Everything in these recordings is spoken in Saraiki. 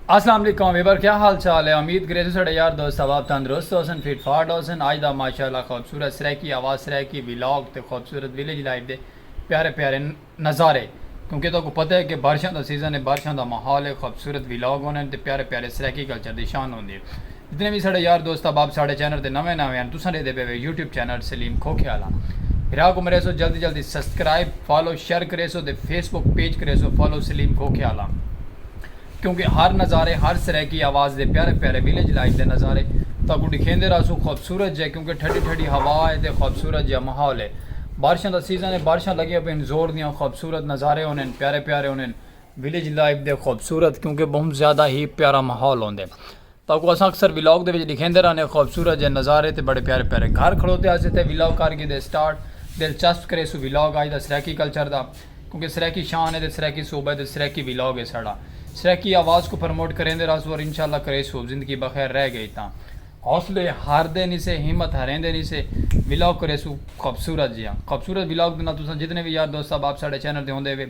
السلام علیکم ویور کیا حال چال ہے امید کرے تو سڑے یار دوست ثواب تندرست ہو سن فٹ فاٹ ہو سن آج دا ماشاءاللہ خوبصورت سرائیکی آواز سرائیکی ویلاگ تے خوبصورت ویلیج لائف دے پیارے پیارے نظارے کیونکہ تہاکوں پتہ ہے کہ بارشاں دا سیزن ہے بارشاں دا ماحول ہے خوبصورت ولاگ ہوندن تے پیارے پیارے سرائیکی کلچر دی شان ہوندی ہے جتنے وی ساڈے یار دوست احباب ساڈے چینل تے نویں نویں ہن تساں ڈیدھے پئے وے یوٹیوب چینل سلیم کھوکھے آلا بھرا کوں مریسو جلدی جلدی سسکرائب فالو شیئر کریسو تے فیس بک پیج کریسو فالو سلیم کھوکھے آلا۔ کیونکہ ہر نظارے ہر سرائیکی آواز دے پیارے پیارے ویلیج لائف دے نظارے تہاکوں ڈکھیندے رہسوں خوبصورت جئے کیونکہ ٹھڈی ٹھڈی ہوا اے تے خوبصورت جئے ماحول اے بارشاں دا سیزن اے بارشاں لگیاں پئین زور دیاں خوبصورت نظارے ہونین پیارے پیارے ہونین ویلیج لائف دے خوبصورت کیونکہ بہوں زیادہ ہی پیارا ماحول ہوندے۔ تہاکوں اساں اکثر ولاگ دے وچ ڈکھیندے رہنے آں خوبصورت جے نظارے تے بڑے پیارے پیارے گھر کھڑوتے آسے تے ولاگ کر گھیدے سٹارٹ دلچسپ کریسوں ولاگ اج دا سرائیکی کلچر دا کیونکہ سرائیکی شان ہے تے سرائیکی صوبہ ہے تے سرائیکی ولاگ ہے ساڈا سرائیکی آواز کوں پرموٹ کریندے رہسوں اور انشاءاللہ کریسوں زندگی بخیر رہ گئی تاں حوصلے ہاردے نی سے ہمت ہاریندے نی سے ولاگ کریسوں خوبصورت جیہاں خوبصورت ولاگ دے نال تساں جتنے وی یار دوست احباب ساڈے چینل تے ہوندے ہوے۔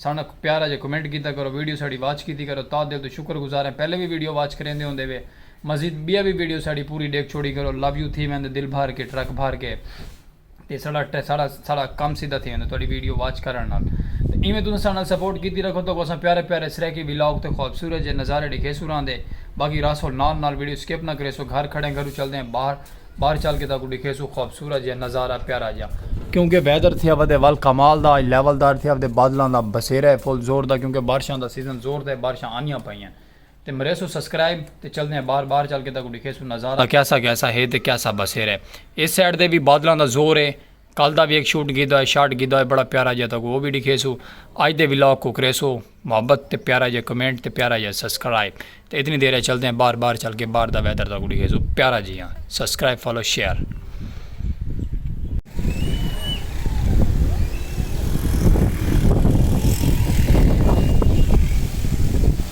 ساݙا پیارا جیہا کمنٹ کیتا کرو ویڈیو ساݙی واچ کیتی کرو تہا دل توں شکر گزار ہیں پہلے وی ویڈیو واچ کریندے ہوندے وے مزید ٻیا وی ویڈیو ساݙی پوری ݙیکھ چھوڑی کرو لو یو تھی ویندے دل بھر کے ٹرک بھر کے تے ساݙا ساݙا ساݙا کم سدھا تھی ویندے تہاݙی ویڈیو واچ کرݨ نال تے ایویں تساں ساݙے نال سپورٹ کیتی رکھو تہاکوں اساں پیارے پیارے سرائیکی ولاگ تے خوبصورت جیہے نظارے ݙیکھیسوں راہندے باقی رہسو نال نال ویڈیو سکپ نہ کریسو گھر کھڑیں گھروں چلدیں باہر باہر چل کے تاکوں ڈکھیسوں خوبصورت جیہا نظارہ پیارا جیہا۔ کیونکہ ویدر تھیا ودے ول کمال دا اج لیول دار تھیا ودے بادلاں دا بسیرا ہے فل زور دا کیونکہ بارشاں دا سیزن زور دا ہے بارشاں آنیاں پئیاں تے مریسوں سسکرائب تے چلدے ہیں باہر باہر چل کے تاکوں ڈکھیسوں نظارہ کیسا کیسا ہے تے کیسا بسیرا ہے اس سائیڈ دے وی بادلاں دا زور ہے کل دا وی ہک شوٹ گھیدا ہوئے شاٹ گھیدا ہوئے بڑا پیارا جیا تہاکوں او وی ڈکھیسوں اج دے ولاگ کوں کریسو محبت تے پیارا جیا کمنٹ تے پیارا جیا سسکرائب تے اتنی دیر اچ چلدے آں باہر باہر چل کے باہر دا ویدر تہاکوں ڈکھیسوں پیارا جیا سسکرائب فالو شیئر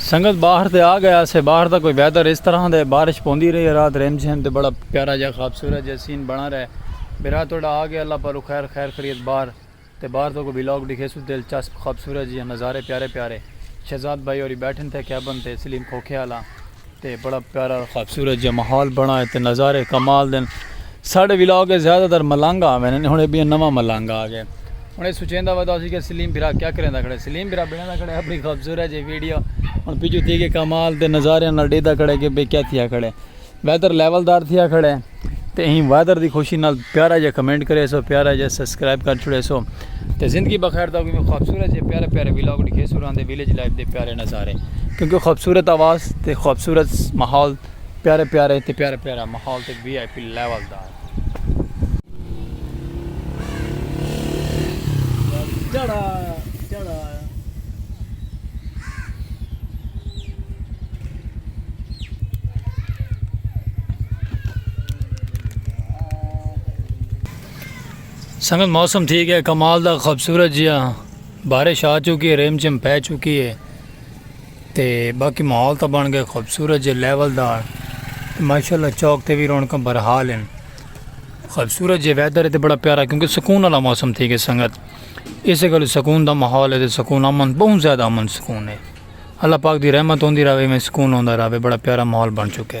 سنگت باہر تے آ گیا سے باہر دا کوئی ویدر اس طرح دے بارش پوندی رہی رات ریم جھیم تے بڑا پیارا جا خوبصورت جا سین بنا رہے میرا توڑا آ گیا اللہ پالو خیر خیر خرید باہر تے باہر تو کوئی بلاگ ڈکھے سو دل چسپ خوبصورت جی نظارے پیارے پیارے شہزاد بھائی اور بیٹھن تھے کیبن تے سلیم کھوکھے آلا تے بڑا پیارا خوبصورت جہاں ماحول بنا ہے تے نظارے کمال دن ساڑھے ویلاگ کے زیادہ تر ملانگا آوے ہیں انہیں بھی نوہ ملانگا آگے انہیں سوچیں دا ودا سی کہ سلیم بھرا کیا کریں دا کھڑے سلیم بھرا بڑھیں دا کھڑے اپنی خوبصورت جہاں ویڈیو ان پیچھو تھی کہ کمال دے نظارے انہاں ڈے دا کھڑے کہ بے کیا تھیا کھڑے ویدر لیول دار تھیا کھڑے تے ہی ویدر دی خوشی نال پیارا جہاں کمنٹ کرے سو پیارا جہاں سسکرائب کر چھوڑے سو تے زندگی بخیر دا وی خوبصورت جے پیارے پیارے ویلاگ ڈکھے سو راندے ویلیج لائف دے پیارے نظارے کیونکہ خوبصورت آواز تے خوبصورت ماحول پیارے پیارے تے پیارے پیارا ماحول تے وی آئی پی لیول دا جڑا جڑا سنگت موسم تھی گیا کمال دا خوبصورت جیا بارش آ چکی ہے ریم جھم پہ چکی ہے تے باقی ماحول تا بن گیا خوبصورت جے لیول دا ماشاءاللہ چوک تے بھی رونقاں برحال ہیں خوبصورت جے ویدر ہے تے بڑا پیارا کیونکہ سکون والا موسم تھی گیا سنگت اس گل سکون دا ماحول ہے تے سکون امن بہت زیادہ امن سکون ہے اللہ پاک دی رحمت ہوندی رہے میں سکون ہوندا رہے بڑا پیارا ماحول بن چکے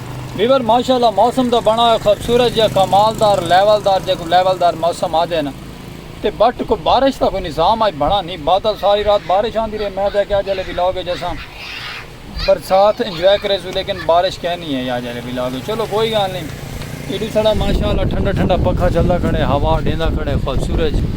ویور ماشاء اللہ موسم دا بنڑا ہوئے خوبصورت جیہا کمال دار لیول دار جیکوں لیول دار موسم آدھے نا تے بٹ کوئی بارش دا کوئی نظام اج بنڑا نی بادل ساری رات بارش آندی رہی میں تیکھیا اج آلے ولاگ اچ اساں برسات انجوائے کریسوں لیکن بارش کہیں نی آئی آج آلے ولاگ اچ چلو کوئی گال نی ایڈو سڑا ماشاء اللہ ٹھنڈا ٹھنڈا پکھا چلدا کھڑے ہوا ڈیندا کھڑے خوبصورت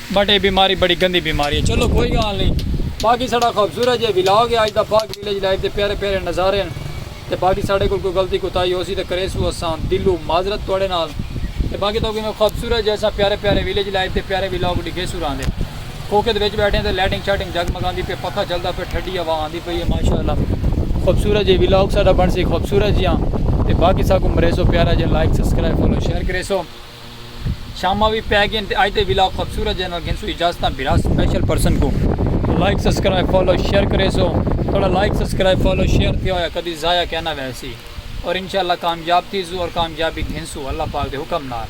بٹ اے بیماری بڑی گندی بیماری ہے چلو کوئی گال نی باقی ساڑا خوبصورت جے ولاگ ہے اج دا باغ ویلیج لائف دے پیارے پیارے نظارے ہن تے باقی ساڑے کول کوئی غلطی کوتاہی ہوسی تے کریسوں اساں دلوں معذرت تواڈے نال تے باقی تہاکوں ایویں خوبصورت جے اساں پیارے پیارے ویلیج لائف دے پیارے ولاگ ڈکھیسوں راہندے کھوکھے دے وچ بیٹھے ہیں تے لائٹنگ شائٹنگ جگمگاندی پئی ہے پکھا چلدا پیا ٹھڈی ہوا آندی پئی ہے ماشاءاللہ خوبصورت جے ولاگ ساڈا بنسی خوبصورت جیاں تے باقی ساکوں مریسو پیارا جے لائک سبسکرائب فالو شیئر کریسو۔ شاماں وی پے گین تے اج دے ولاگ خوبصورت جے نال گھنسوں اجازتاں بھرا سپیشل پرسن کوں لائک سبسکرائب فالو شیئر کریسو تہاڈا لائک سبسکرائب فالو شیئر تھیا ہویا کدی ضائع کینا ویسی اور انشاءاللہ کامیاب تھیسوں اور کامیابی گھنسوں اللہ پاک دے حکم نال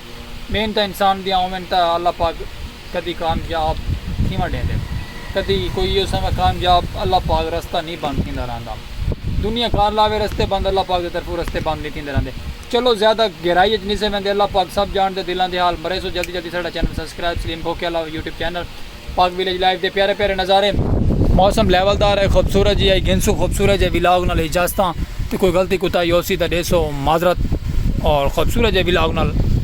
محنتاں انسان دیاں ہوون تاں اللہ پاک کدی کامیاب تھیونڑ ڈیندے کدی کوئی ایہو سمے کامیاب اللہ پاک رستہ نی بند تھیندا رہندا دنیا کار لاوے رستے بند اللہ پاک دی طرفوں رستے بند نی تھیندے رہندے۔ چلو زیادہ گہرائی اچ نسے ویندے اللہ پاک سب جان دے دلاں دے حال مریسو جلدی جلدی ساڈا چینل سبسکرائب سلیم بھوکے اللہ YouTube channel Pak village life دے پیارے پیارے نظارے موسم لیول دار ہے خوبصورت جی آئی گھنسو خوبصورت جی ویلاگ نال اجازتاں تے کوئی غلطی کوتاہی ہوسی تاں ڈیسو معذرت اور خوبصورت جی ویلاگ نال